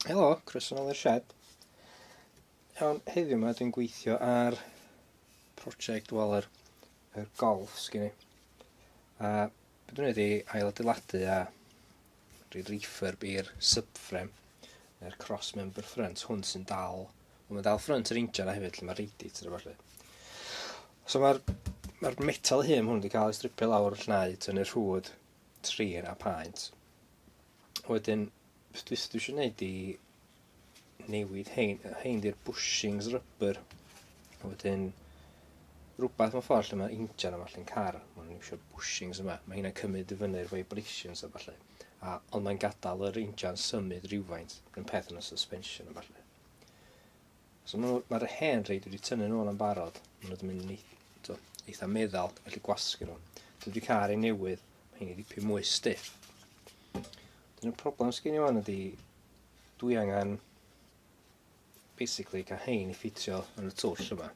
Helo, croeso nôl i'r sied. Iawn, heddiw yma dwi'n gweithio ar prosiect wel yr, yr golf sgyn i. A beth dwi'n wedi ail adeiladu a rhi refurb i'r subframe, yr cross member front, hwn sy'n dal, mae'n dal front yr injan a hefyd lle mae radiator a falle. So mae'r ma metal hyn hwn wedi cael ei stripio lawr llnau tynnu'r rhwyd trin a paent. Wedyn, beth dwi dwi eisiau gwneud i newid hein, hein di'r bushings rubber. Wedyn, rhywbeth mewn ffordd lle mae injan yma lle'n car, mae'n eisiau bushings yma, mae hynna'n cymryd i fyny'r vibrations a falle. A, ond mae'n gadael yr injan symud rhywfaint, yn peth yn y suspension a falle. So ma' nhw, ma'r hen rei dwi wedi tynnu nhw yn barod, ma' nhw wedi mynd yn eitha, eitha meddal, dwi'n gallu gwasgu nhw. Dwi wedi cael ei newydd, mae hyn i ddipyn mwy stiff. Dyn y problem sgyn i wan ydy, dwi angen basically cael hein i ffitio yn y twll yma.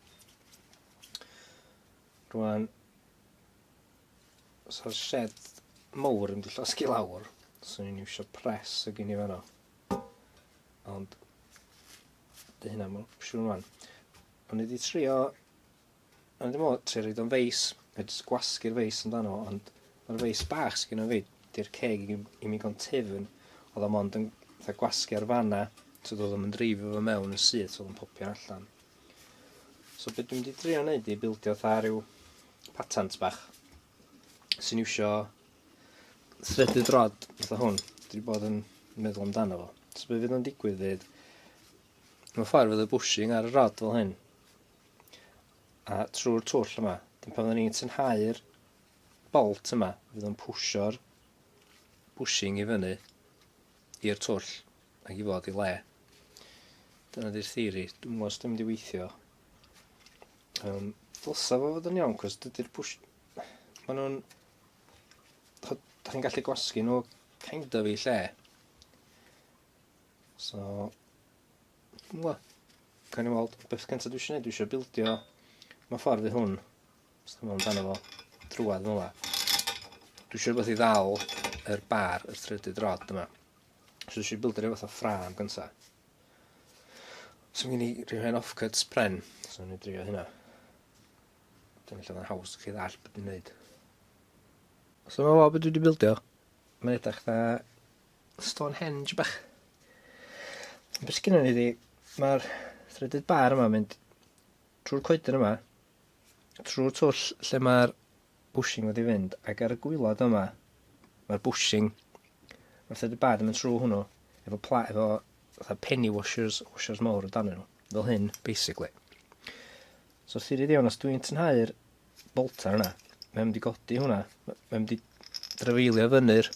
Rwan, os o'r shed mowr yn di llosgi lawr, swn i'n iwsio pres y gyn i fanno. Ond, dy hynna mae'n opsiwn rwan. Ond wedi trio, ond wedi mod, trio rhaid o'n feis, rhaid gwasgu'r feis amdano, ond mae'r feis bach sy'n gyda fi, di'r ceg i, i mi go'n tefn, oedd o'n mond yn gwasgu ar fanna, so oedd o'n dreifio fo mewn yn syth, so oedd o'n popio allan. So beth dwi'n mynd i drio wneud i bildio tha rhyw patent bach sy'n iwsio thredydd rod fatha hwn, dwi wedi bod yn meddwl amdano fo. So be fydd o'n digwydd fydd, mewn ffordd fydd y bushing ar y rod fel hyn, a trwy'r twll yma, dyn pan fyddwn ni'n tynhau'r bolt yma, fydd o'n pwsio'r bushing i fyny i'r twll ac i fod i le. Dyna di'r theori, dwi'n gwybod os dwi'n mynd i weithio. Um, Ddylsa fo fod yn iawn, cos dydy'r push... Maen nhw'n da chi'n gallu gwasgu nhw kind of i lle. So, dwi'n gwybod, cael ei weld, beth cyntaf dwi eisiau gwneud, dwi eisiau bildio, mae ffordd i hwn, os dwi'n meddwl amdano fo, drwad fel yma. Dwi eisiau rhywbeth i ddal yr bar, yr threaded rod yma. So dwi eisiau bildio rhywbeth o ffram gyntaf. So mi'n i rhywun off-cuts pren, so ni'n drio hynna. Dwi'n meddwl mae'n haws chi ddall beth dwi'n neud. Os yma fo beth dwi wedi bildio, mae'n edrych na Stonehenge bach. Beth sgyn ni di, mae'r threaded bar yma mynd trwy'r coedyn yma, trwy'r twll lle mae'r bushing wedi fynd, ac ar y gwylod yma, mae'r bushing, mae'r threaded bar yn mynd trwy hwnnw, efo, pla, efo fatha penny washers, washers mawr o dan nhw, fel hyn, basically. So sirid iawn, os dwi'n tynhau'r bolta yna, mae'n mynd i godi hwnna. Mae'n mynd i drafeilio fyny'r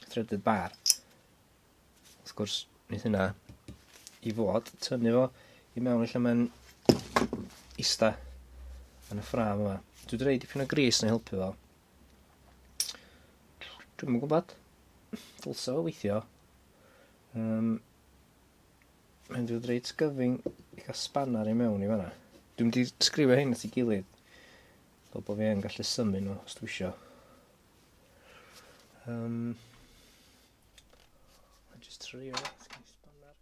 threaded bar. Wrth gwrs, wneud hynna i fod, tynnu fo i mewn lle mae'n ista yn y ffram yma. Dwi wedi rhoi dipyn o gris yn helpu fo. Dwi'n mwyn gwybod. Dylsa fo weithio. Um, Mae'n dod reit gyfyng i gael spanner i mewn i fanna. Dwi'n mynd i sgrifio hyn at ei gilydd. Fel bod fi yn gallu symu nhw os dwi isio. Um, a just trio spanner.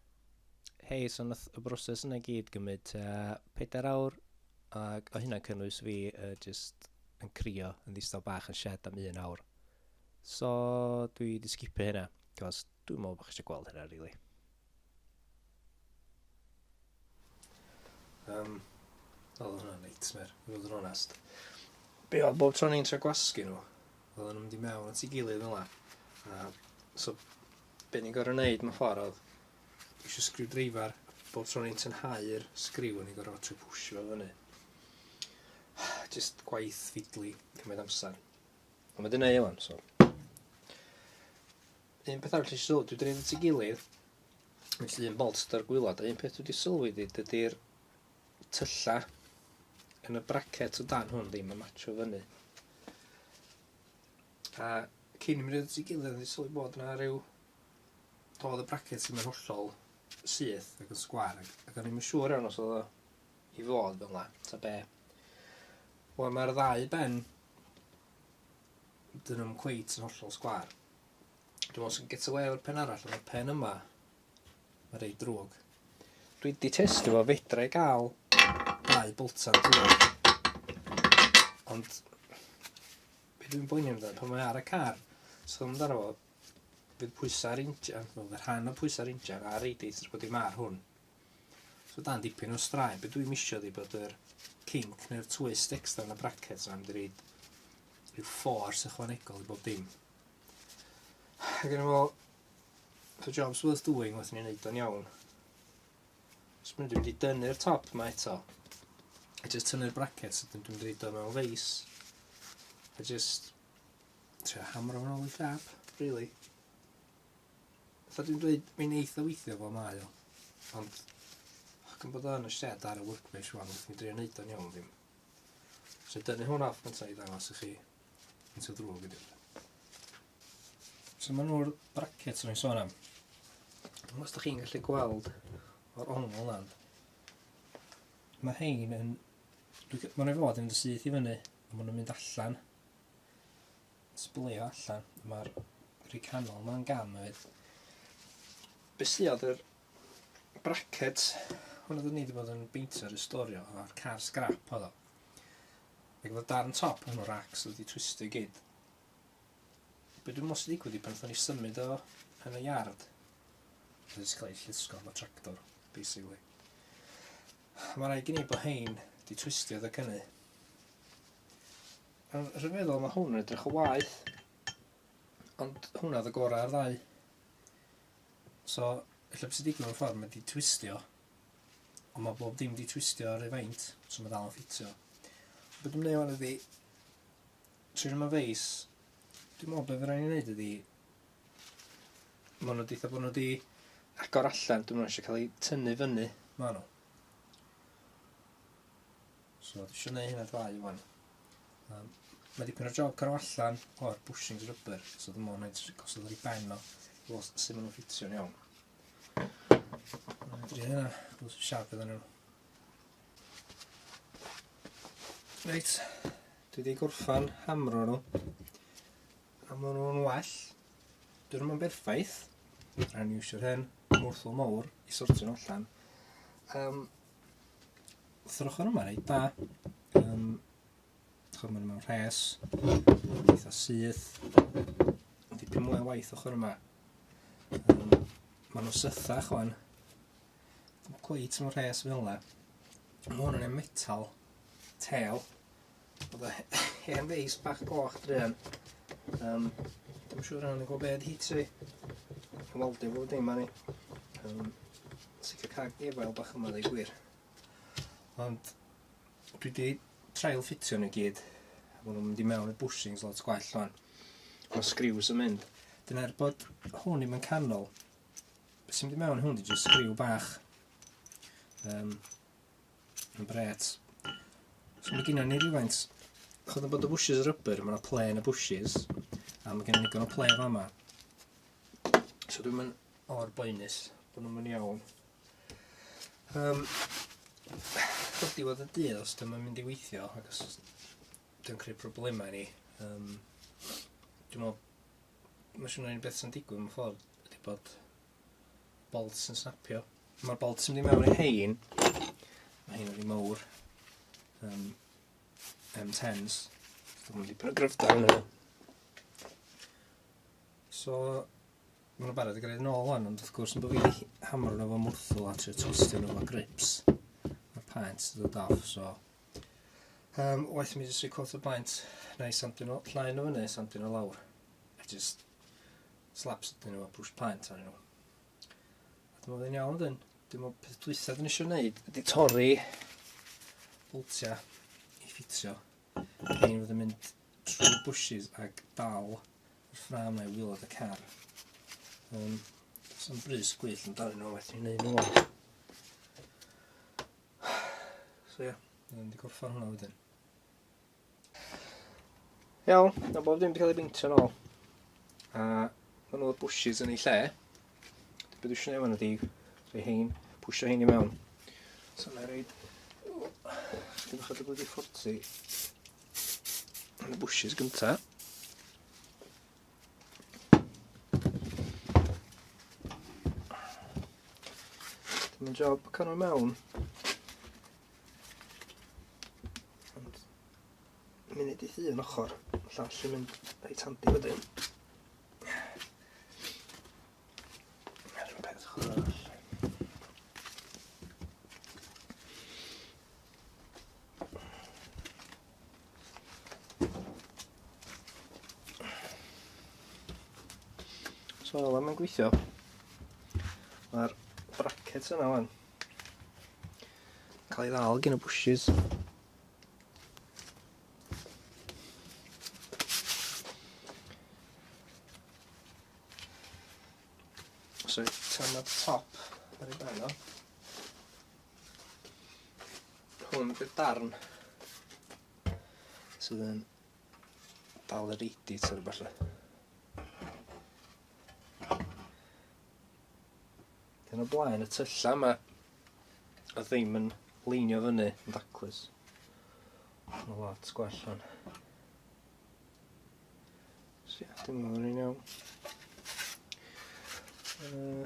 Hei, so nath y broses yna gyd gymryd uh, pedair awr ac o hynna cynnwys fi uh, just yn crio yn ddistaw bach yn shed am un awr. So dwi wedi sgipio hynna, cos dwi'n meddwl bod chi eisiau gweld hynna, really. Um, oedd hwnna'n nightmare, i fod yn onest. Be oedd bob tro ni'n tra gwasgu nhw, oedd nhw'n mynd i mewn at ei gilydd fel yna. So, be ni'n gorau wneud mewn ffordd oedd, eisiau sgriw dreifar, bob tro ni'n tynhau'r sgriw, ni'n gorau trio pwysio fel fyny. Just gwaith fidlu, cymryd amser. Ond mae dyn ei ewan, so. Un peth arall nes i sylwi, dwi 'di neud at ei gilydd, felly un bolt gyda'r gwylod, a un peth dwi 'di sylwi 'di dydi'r tylla yn y bracket o dan hwn ddim yn matcho fyny. A cyn i mi roid at ei gilydd, nes i sylwi bod 'na ryw... Doedd y bracket ddim yn hollol syth ac yn sgwar, ac ac o'n i'm yn siŵr iawn os oedd o i fod fel 'na, ta be'. Wel, mae'r ddau ben, 'dyn nhw'm cweit yn hollol sgwar. Dwi'n meddwl sy'n get away o'r pen arall, ond y pen yma, mae'n rei drwg. Dwi wedi testio fo, fedra i gael dau boltan drwg. Ond, be dwi'n boeni amdano, pan mae ar y car, so amdano fo, fydd pwysau'r injan, fel rhan o pwysau'r injan, a reideit, rwy'n bod i mar hwn. So dan dipyn o straen. Be dwi'n misio di bod yr kink neu'r twist extra yn y brackets am di reid rhyw force ychwanegol i bob dim. Ac yn efo, the job's worth doing, wrth ni'n neud o'n iawn. Os mynd i'n mynd i dynnu'r top yma eto, a just tynnu'r brackets, ydyn dwi'n mynd i reid o mewn feis, a just trio hamro yn ôl i llap, really. Fatha dwi'n dweud, mae'n eitha weithio fel mae o. Ond, gan bod o yn y shed ar y workbench rwan, wrth mi drio neud o'n iawn ddim. So dynu hwn off gyntaf i ddangos i chi yn sy'n ddrwg ydi. So maen nhw'r brackets rwy'n sôn am. Dwi'n os da chi'n gallu gweld o'r ongl lan. Mae hein yn... Mae'n ei fod yn mynd y syth i fyny, a maen nhw'n mynd allan. Sbwylio allan, mae'r rhi canol ma'n gam hefyd. Be sy oedd yr bracket hwn oedd ni wedi bod yn beintio ar y storio o'r car scrap oedd o. Ac oedd darn top yn o'r racks oedd wedi twistio gyd. Be dwi'n mwyn sy'n digwydd i pan o'n i symud o yn y yard. Oedd wedi cael ei llusgo am y tractor, basically. Mae rhaid gen i bod hein di twistio dda cynnu. Wel, rwy'n meddwl mae hwn yn edrych o waeth. Ond hwnna oedd y gorau ar ddau. So, efallai beth sy'n digwydd o'r ffordd, mae wedi twistio. Ond mae bob dim wedi twistio ar ei faint, so mae dal yn ffitio. Beth dwi'n gwneud fan ydi, trwy'n yma feis, dwi'n meddwl beth rhaid i wneud ydi, mae nhw wedi bod nhw wedi agor allan, dwi'n meddwl eisiau cael ei tynnu fyny, maen nhw. So dwi isio neud hynna dau wan. Um, mae dipyn o'r job cyrraedd allan o'r bushings rubber, so dwi'n meddwl wneud gosod ar ei ben o, wrth sut maen nhw'n ffitio'n iawn. Mae'n dri hynna, wrth siap iddyn nhw. Reit, dwi wedi gorffan hamro nhw. A maen nhw'n well. Dwi ddim yn berffaith. Rhaid ni iwsio'r hyn, mwrthol mawr, i sortio'n allan. Um, wrth yr ochr yma, reit da. Um, Chod maen mewn rhes, eitha syth, dipyn mwy o waith ochr yma. Um, maen nhw'n sythach o'n, cweit mewn rhes fel yna. Mae hwn yn metal, tel, Oedd e hen feis bach goch druan. Um, Dwi'n siŵr rhan yn gwybod beth hi tri. Waldio fo dim anni. Um, Sicr cag defael bach yma ddau gwir. Ond dwi wedi trail ffitio nhw gyd. Mae nhw'n mynd i mewn y bushings lot gwell o'n. Mae sgriws yn mynd. Dyna'r er bod hwn i'n mynd canol. Beth sy'n mynd i mewn hwn di jyst sgriw bach. Um, Yn bret. So mae gennym ni rhywfaint. Chod yn bod y bushes y rybr, mae yna ple yn y bushes. A mae gennym ni gan o ple fa yma. So dwi'n mynd o'r boenus bod nhw'n mynd iawn. Um, Chod i fod y dydd os dyma mynd i weithio, ac os dwi'n creu problemau ni. Um, dwi'n meddwl, mae siwr yn beth sy'n digwydd mewn ffordd, ydy bod bolts yn snapio. Mae'r bolts yn mynd i mewn i hein. Mae hein wedi mawr. Um, M10s. Dwi'n mynd i pwy'n gryfda yn yna. So, mae'n barod i greu'n ôl o'n, ond wrth gwrs yn bod fi hamro nhw fo mwrthol a trio twistio nhw fo grips. Mae paent sydd o daf, so... Um, waith mi jyst i cwrdd y baent, na i samdyn o llain o fyny, samdyn o lawr. Just slaps ydyn nhw a push paent arnyn nhw. A dwi'n meddwl yn iawn dyn, dwi'n meddwl peth dwythaf dyn eisiau gwneud ydy torri boltiau i ffitio. Dwi'n fod yn mynd trwy bushes ac dal y ffram neu wylod y car. Um, So'n brys gwyll yn darn nhw, wedyn ni'n neud nhw. So ie, yeah, dwi'n mynd i gorffan hwnna wedyn. Iawn, na bob dim wedi cael ei beintio'n ôl. A maen nhw'r bushes yn ei lle. Beth dwi'n siarad fan ydi, rhoi hein, pwysio hein i mewn. So mae'n rhaid, dwi'n chod y blydi fforti. Yn y bushes gynta. Mae'n job canol mewn. Ond, munud i llun ochr, y llall yn mynd reit handi wedyn. Ar y peth ochr arall. So, mae'n gweithio. Mae'r brackets yna wan. Cael ei ddal gen y bushes. So, tan y top ar ei ben o. Hwn bydd darn sydd yn dal yr eidit ar y falle. Dyn o blaen y tyllau yma. A ddim yn leinio fyny yn daclus. Mae'n lot gwell hwn. So ia, dim yn rhaid iawn. Uh,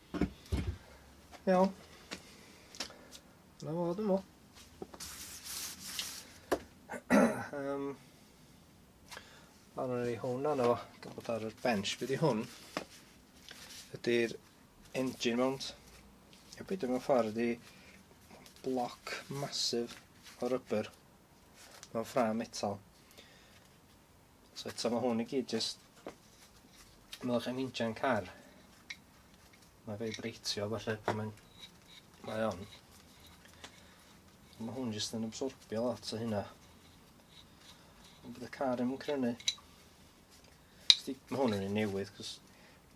Iawn. Na fo, dwi'n meddwl. um, Ar ei hwn arno fo, dwi'n bod ar y bench. Be di hwn? Ydy'r engine mount. Ie, beth mewn ffordd ydy bloc masif o rybr mewn ffrâm metal. So eto mae hwn i gyd jyst meddwl chi'n injan car. Mae fe i breitio falle pan mae'n... Mae on. Mae hwn jyst yn absorbio lot o hynna. Ond bydd y car yn crynu. Mae hwn yn ei newydd, cos...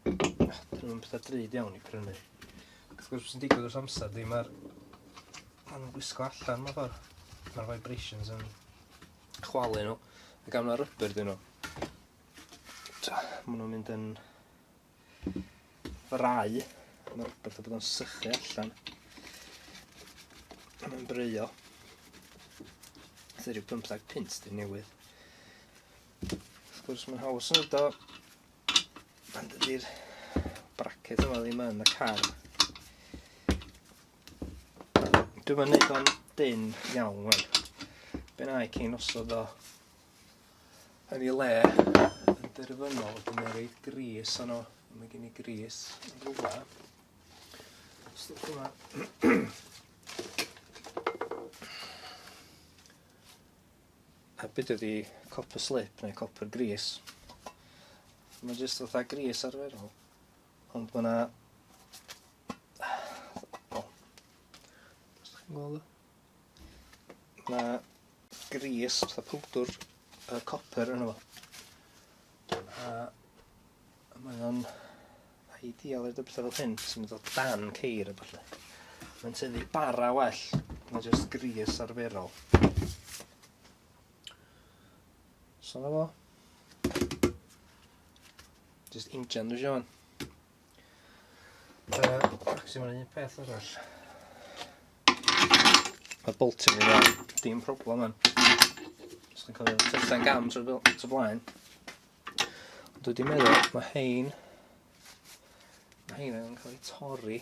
Dyn nhw'n pethau drud iawn i crynu. Wrth gwrs, sy'n digwydd wrth amser, di mae'r... Mae'n gwisgo allan, mae'n ffordd. Mae'r vibrations yn chwalu nhw a gaf 'na rubber dyn nhw. Ta, maen nhw'n mynd yn frai. Mae'r rubber fatha bod o'n sychu allan. Mae'n breio. Sy'n rhyw 15 pint dyn newydd. Wrth gwrs mae'n haws yn ydo. Ond ydy'r bracket yma ddim yn y car. Dwi'n mynd neud o'n dyn iawn wan. Be na i cyn osod o yn ei le yn derfynol, dwi'n mynd rhaid gris o'n o. Mae gen i gris yn rhywle. Stwch yma. A byd ydi copper slip neu copper gris. Mae jyst fatha gris arferol. Ond mae yna... O. Os chi'n gweld o. Mae yna gris, fatha pwdwr, y copper yna fo. A mae o'n ideal i'r dybysau fel hyn, sy'n mynd o dan ceir a falle. Mae'n tynnu bara well, mae'n just gris arferol. So na fo. Just injan dwi eisiau fan. Uh, ac sy'n un peth arall. Mae boltio fi fan, dim problem fan. Os chi'n cofio, tyllen gam trwy blaen. Ond dwi wedi meddwl, mae hein, mae hein yn cael ei torri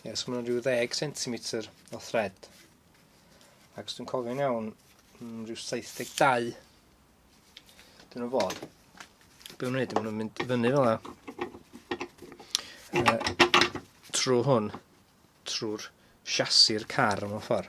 Ie, so mae'n rhyw ddeg centimetr o thread. Ac os dwi'n cofio'n iawn, mm, rhyw 72. Dyn nhw'n fod. Be nhw'n neud, maen nhw'n mynd i fyny fel yna. Uh, trwy hwn, trwy'r siasi'r car yma ffordd.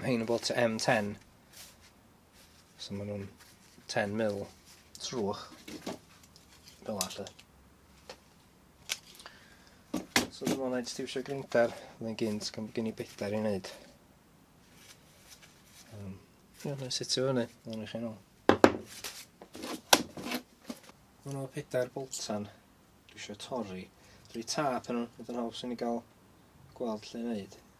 Rhain yn bot M10. So maen nhw'n 10 mil trwch. Fel allu. So dyma wneud stiwsio grinder. Mae'n gynt, gan bod gen i bedair i wneud. Um, Ie, mae'n sitio fyny. Mae'n eich enw. Mae'n nhw pedair boltan. Dwi eisiau torri. Rhi tap yn nhw. Mae'n haws i ni gael gweld lle wneud.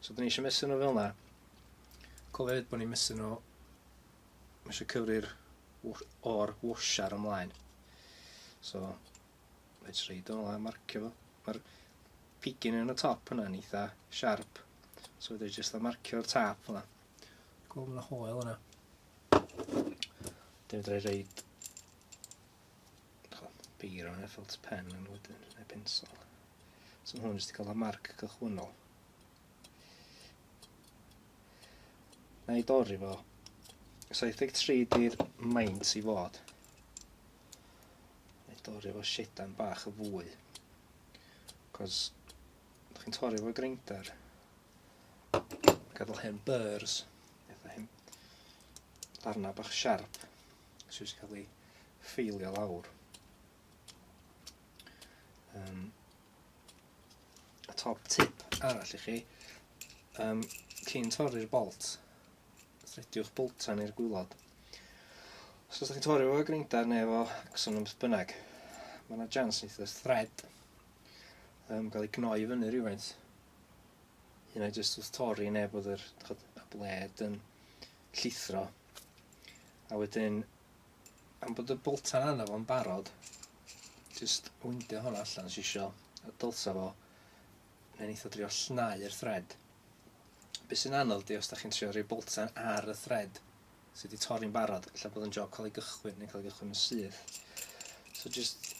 So dyn ni eisiau mesur nhw fel yna. Cofio hefyd bod ni'n mesur nhw, mae eisiau cyfri'r o'r washar ymlaen. So, reit reid o'n ymlaen, marcio fo. Mae'r pigyn yn y top yna yn eitha sharp. So fydde jyst a marcio'r tap yna. Gweld yna hoel yna. Dyn fydde reid beiro neu felt pen yn wedyn, neu pensol. So mae hwn jyst i cael y marc cychwynnol. Na i dorri fo. 73 di'r maint i fod. Na i dorri fo shedan bach y fwy. Cos, ydych chi'n torri fo grinder. Gadael hen burs. Eitha hen. Darna bach siarp. sydd wedi cael ei ffeilio lawr. Um, a top tip arall i chi, um, cyn torri'r bolt, thrediwch bolta neu'r gwylod. Os ydych chi'n torri efo greindar neu efo axon yn bynnag, mae yna jans neith y thread um, gael ei gnoi fyny rhywfaint. Hynna jyst wrth torri neu bod yr, y bled yn llithro A wedyn, am bod y boltan arno fo'n barod, jyst windio hwn allan os isio, a dylsa fo, neu'n eitha drio llnau'r thread. Be sy'n anodd di os da chi'n trio rhoi boltan ar y thread sydd wedi torri'n barod, lle bod yn job cael ei gychwyn neu cael ei gychwyn yn syth. So jyst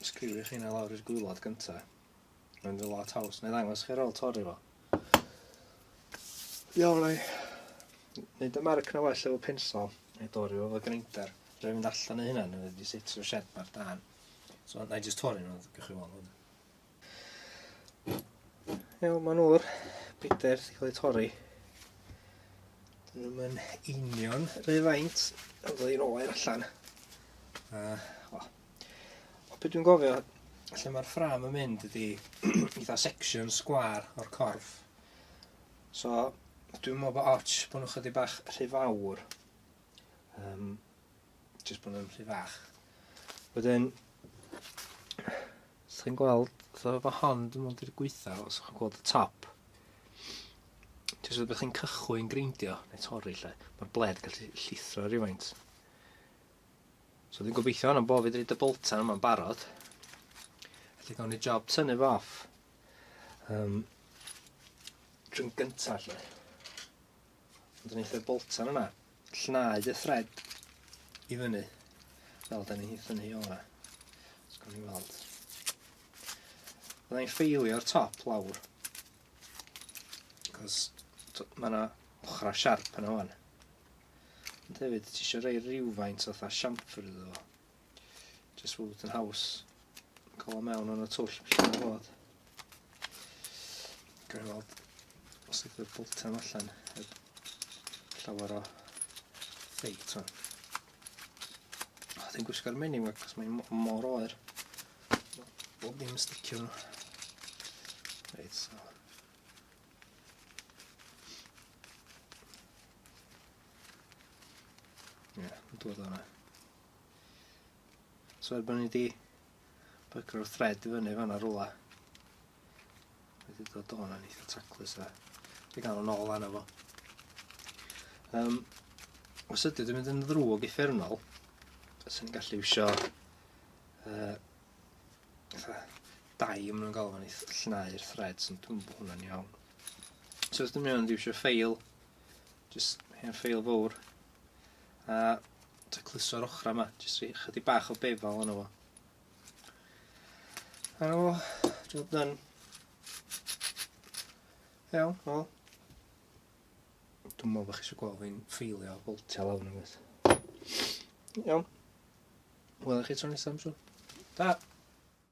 sgriwio chi yna lawr i'r gwylod gyntaf. Mae'n dda lot haws. Neu ddangos chi ar ôl torri fo. Iawn, ai. Nid y marc na well efo pensol. Neu dorri fo fo grinder. Rwy'n mynd allan ei hynna, neu wedi setio shed mae'r dan. So, na i just torri nhw, gwych chi weld hwn. Iawn, mae'n o'r brider sy'n cael ei torri. Dyn nhw'n union rhyfaint, ond dwi'n oer allan. A, o, Be dwi'n gofio lle mae'r ffram yn mynd ydy eitha section sgwar o'r corff. So dwi'n meddwl bod ots bod nhw'n chydig bach rhy fawr. Um, just bod nhw'n rhy fach. Wedyn, os chi'n gweld, so efo hon, dwi'n meddwl di'r gweitha, os chi'n gweld y top, jyst rhywbeth chi'n cychwyn greindio, neu torri lle, mae'r bled gallu llithro rhywfaint. So dwi'n gobeithio hwnna'n bo' fi 'di roid y boltan yma'n barod. Felly gawn ni job tynnu fo off. Um, drwy'n gynta lle. Ond yn eitha boltan yna, llnau y thread i fyny. Fel da ni'n hitha ni o yna. Os gawn ni weld. Fydda i'n ffeilio'r top lawr. Cos mae yna ochrau siarp yna o'n. Ond hefyd, ti eisiau rhoi rhywfaint o fatha siamper iddo fo. Just fod yn haws. Cael o mewn o'n y twll lle mae'n bod. Gwneud i weld os ydych chi'n boltan allan. Llawer o ffeit hwn. Dwi'n gwisgo'r menu yma, cos mae'n mor oer. Bob ddim yn sticio nhw. Reit, so. Ie, yn dod o'na. So erbyn ni di bygr o'r thread i fyny fan ar rola. Wedi dod o'n yn eitha taclus a di gael yn ôl arno fo. Um, os ydy wedi mynd yn ddrwg i ffernol, sy'n gallu wisio uh, Dau a ma' nw'n galw fo'n ei th- llnau'r threads ond dwi'm bo hwnna'n iawn. So os dwi mewn dwi isio ffeil, jyst hen ffeil fowr, a tacluso'r ochra yma, jyst rhi- chydig bach o befal yno fo. A o, job done. Iawn, wel. Dwi'n meddwl bod chi eisiau gweld fi'n ffeilio a boltio lawr neu beth. Iawn. Wel, chi tro nesaf, am siŵr. Da!